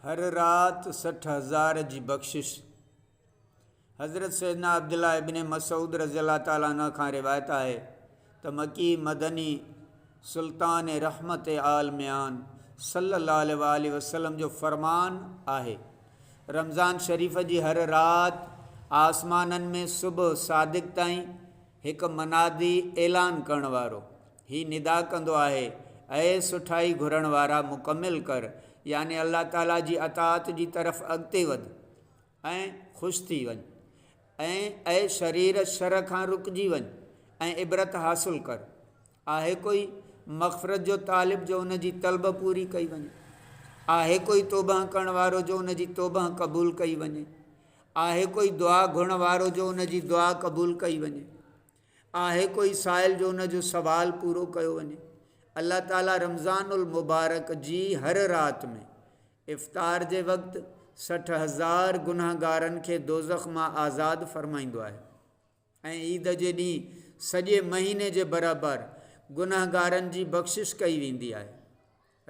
هر رات سٺ هزار جي بخشش حضرت سيدنا عبدالله ابن مسعود رضي الله تعاليٰ عنہ کان روايت آهي ته مڪي مدني سلطان رحمت عالميان صلي الله عليه وآله وسلم جو فرمان آهي رمضان شريف جي هر رات آسمانن ۾ صبح صادق تائين هڪ منادي اعلان ڪرڻ وارو هي ندا ڪندو آهي، اي سٺائي گهرڻ وارا مڪمل ڪر يعني الله تعالي جي اطاعت جي طرف اڳتي وڌ ۽ خوش ٿي وڃ ۽ اي شرير شر کان رڪجي وڃ ۽ عبرت حاصل ڪر آهي ڪوئي مغفرت جو طالب جو ان جي طلب پوري ڪئي وڃي آهي ڪوئي توبهه ڪرڻ وارو جو ان جي توبهه قبول ڪئي وڃي آهي ڪوئي دعا گهرڻ وارو جو ان جي دعا قبول ڪئي وڃي آهي ڪوئي سائل جو ان جو سوال پورو ڪيو وڃي الله تعالي رمضان المبارڪ جي هر رات ۾ افطار جي وقت سٺ هزار گنهگارن کي دوزخ مان آزاد فرمائيندو آهي ۽ عيد جي ڏينهن سڄي مهيني جي برابر گنهگارن جي بخشش ڪئي ويندي آهي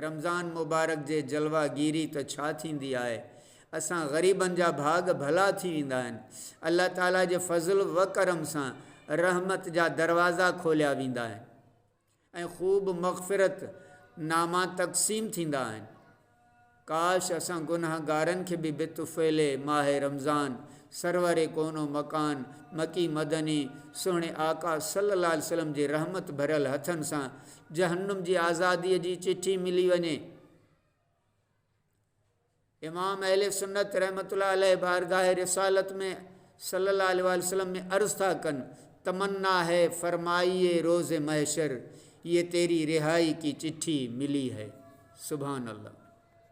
رمضان مبارڪ جي جلوه گيري ته ڇا ٿيندي آهي اسان غريبن جا ڀاڳ ڀلا ٿي ويندا آهن الله تعالي جي فضل وڪرم سان رحمت جا دروازا کوليا ويندا آهن ۽ خوب مغفرت ناما تقسيم ٿيندا آهن ڪاش اسان گنهگارن کي به بطفيل ماهه رمضان سرور ڪون و مڪان مڪي مدني سهڻي آقا صلي الله عليه وسلم جي رحمت ڀريل هٿن سان جهنم جي آزاديء جي چٺي ملي وڃي. امام اهل سنت رحمت الله عليه بارگاهه رسالت ۾ صلي الله عليه واٰله وسلم ۾ عرض ٿا ڪن، تمنا هي فرمائيي روز محشر، يي تيري رهائي ڪي چٺي ملي هي. سبحان الله!